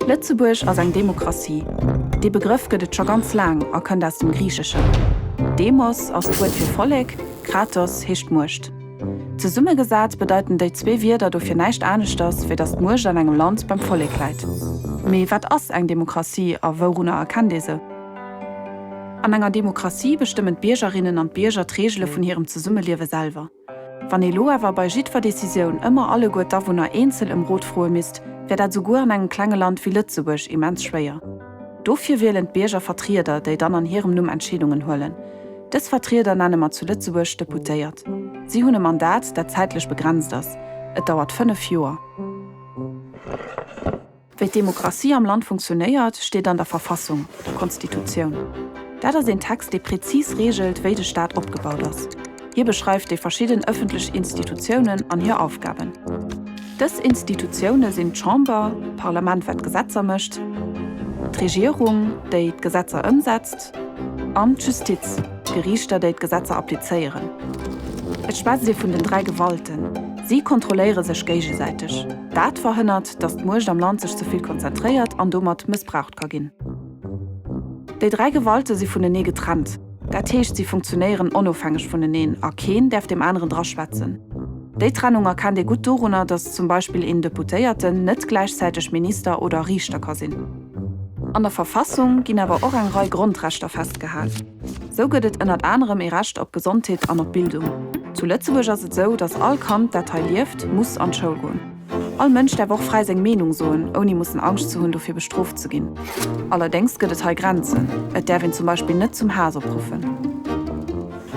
Lëtzebuerg ass eng Demokratie. Dee Begrëff gëtt et scho ganz laang a kënnt aus dem Griicheschen. Demos ass d'Wuert fir Vollek, kratos heescht Muecht. Zesummegesat bedeiten déi zwee Wierder dofir näischt aneschters, wéi datt d'Muecht an engem Land beim Vollek läit. Mee wat ass eng Demokratie a wourunner erkennt ee se? An enger Demokratie bestëmmen d'Biergerinnen an d'Bierger d'Reegele vun hirem Zesummeliewe selwer. Wann ee lo awer bei jiddwer Decisioun ëmmer alleguer d'Awunner eenzel ëm Rot froe misst, wär dat esouguer an engem klenge Land wéi Lëtzebuerg immens schwéier. Dofir wielen d'Bierger Vertrieder, déi dann an hirem Numm Entscheedungen huelen. Dës Vertrieder nenne mer zu Lëtzebuerg Deputéiert. Si hunn e Mandat, dat zäitlech begrenzt ass, et dauert fënnef Joer. Wéi d'Demokratie am Land funktionéiert, steet an der Verfassung, der Konstitutioun. Dat ass een Text, dee prezis reegelt, wéi de Staat opgebaut ass. Hie beschreift déi verschidden ëffentlech Institutiounen an hir Aufgaben. Dës Institutioune sinn d'Chamber, d'Parlament, wat d'Gesetzer mécht, d'Regierung, déi d'Gesetzer ëmsetzt, An d'Justiz, d'Geriichter déi d'Gesetzer applizéieren. Et schwätzt ee vun den dräi Gewalten. Si kontrolléiere sech géigesäiteg. Dat verhënnert, datt d'Muecht am Land sech ze vill konzentréiert an domat mëssbraucht ka ginn. Déi dräi Gewalte si vunenee getrennt. Dat heescht, si funktionéieren onofhängeg vuneneen a keen däerf deem aneren draschwätzen. Déi Trennung erkennt ee gutt dorunner, datt zum Beispill een Deputéierten net gläichzäiteg Minister oder Riichter ka sinn. An der Verfassung ginn awer och eng Rei Grondrechter festgehal. Sou gëtt et ënnert anerem ee Recht op Gesondheet an op Bildung. Zu Lëtzebuerg ass et sou, datt all Kand, dat hei lieft, muss an d'Schoul goen. All Mënsch däerf och fräi seng Meenung soen, ouni mussen Angscht ze hunn, dofir bestrooft ze ginn. Allerdéngs gëtt et hei Grenzen, Et däerf een zum Beispill net zum Haass opruffen.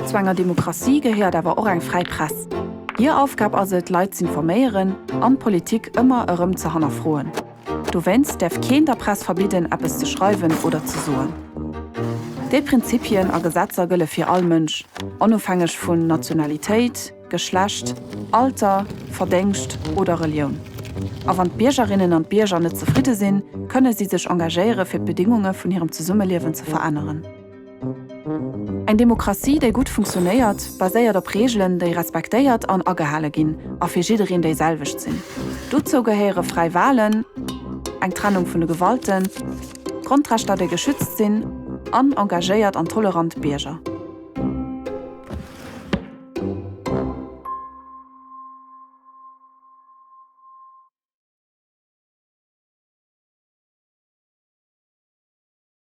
Zu enger Demokratie gehéiert awer och eng fräi Press. Hir Aufgab ass et, Leit z'informéieren an d'Politik ëmmer erëm ze hannerfroen. Dowéinst däerf keen der Press verbidden, eppes ze schreiwen oder ze soen. Déi Prinzipien a Gesetzer gëlle fir all Mënsch, onofhängeg vun Nationalitéit, Geschlecht, Alter, Verdéngscht oder Relioun. A wann d'Biergerinnen an d'Bierger net zefridde sinn, kënne si sech engagéiere fir d'Bedingunge vun hirem Zesummeliewen ze veränneren. Eng Demokratie, déi gutt funktionéiert, baséiert op Reegelen, déi respektéiert an agehale ginn a fir jiddereen déiselwecht sinn. Dozou gehéiere fräi Walen, eng Trennung vun de Gewalten, Grondrechter, déi geschützt sinn, an engagéiert an tolerant Bierger.